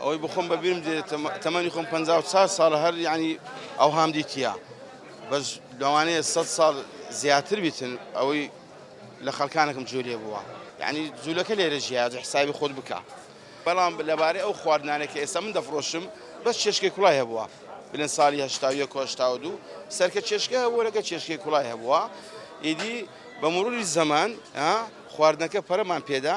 ئەوەی بۆخۆم بەبیرم دێ تەمەنی خۆم پەنجا و چار ساڵە هەر یعنی ئەوهام دیتیە بەس لەوانەیە سەد ساڵ زیاتر بیتن ئەوەی لە خەڵکانێکم جوێ لێ بووە یعنی جوولەکە لێرە ژیاج حسابی خۆت بکە بەڵام لەبارەی ئەو خواردنانێک کە ئێستا من دەفرۆشم بەس چێشکێک کوڵای هەبووە بلێن ساڵی هەشتا و یەک و هەشتا و دوو سەرکە چێشکە هەبووە لەگە چێشکێک کوڵای هەبووە ئیدی بە مروری زەمان خواردنەکە پەرەمان پێدا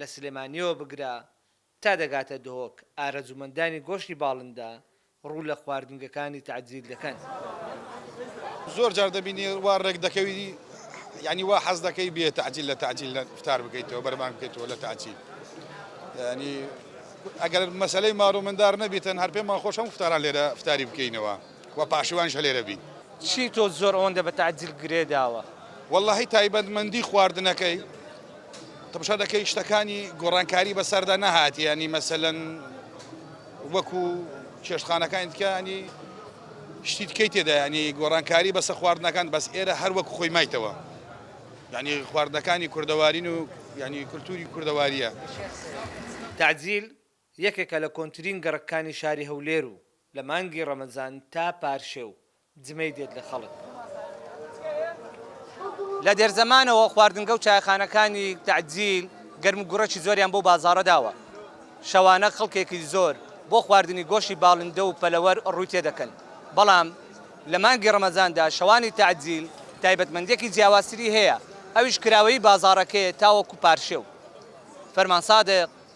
لە سلێمانییەوە بگرە تا دەگاتە دهۆک، ئارەزوومەندانی گۆشتی باڵندە ڕوو لە خواردنگەکانی تەعجیل دەکەن. زۆر جار دەبینی وا ڕێک دەکەوی یانی وا حەز دەکەی بێ تەعجیل لە تەعجیل ئیفتار بکەیتەوە بەرەبان بکەیتەوە لە تەعجیل یانی ئەگەر مەسەلەی مارو مندار نەبیتن هەر پێمان خۆش هەموو ئیفتاران لێرە ئیفتاری بکەینەوە. وە پاشیوانیش هەلێرە بین. چی تۆ زۆر ئەوەندە بە تەعجیل گرێ داوە. وەڵاهی تایبەتمەندی خواردنەکەی تەمشا دەکەی شتەکانی گۆڕانکاری بەسەردا نەهات یانی مەسەلەن وەکو چێشتخانەکانی تکە ینی شتی تکەی تێدا ینی گۆڕانکاری بەسە خواردنەکان بەس ئێرە هەر وەکو خۆی مایتەوە ینی خواردنەکانی کوردەوارین و ینی کولتوری کوردەواریە. تەعجیل یەکێکە لە کۆنترین گەڕەککانی شاری هەولێر و لە مانگی ڕەمەزان تا پارشێو جمەی دێت لە خەڵک. لە دێرزەمانەوە خواردنگە و چایەخانەکانی تەعجیل گەرم و گوڕێکی زۆریان بەو بازاڕە داوە، شەوانە خەڵکێکی زۆر بۆ خواردنی گۆشتی باڵندە و پەلەوەر ڕووی تێ دەکەن، بەڵام لە مانگی ڕەمەزاندا شەوانی تەعجیل تایبەتمەندییەکی جیاوازتری هەیە، ئەویش کراوەیی بازاڕەکەیە تاوەکو پارشێو. فەرمان سادق.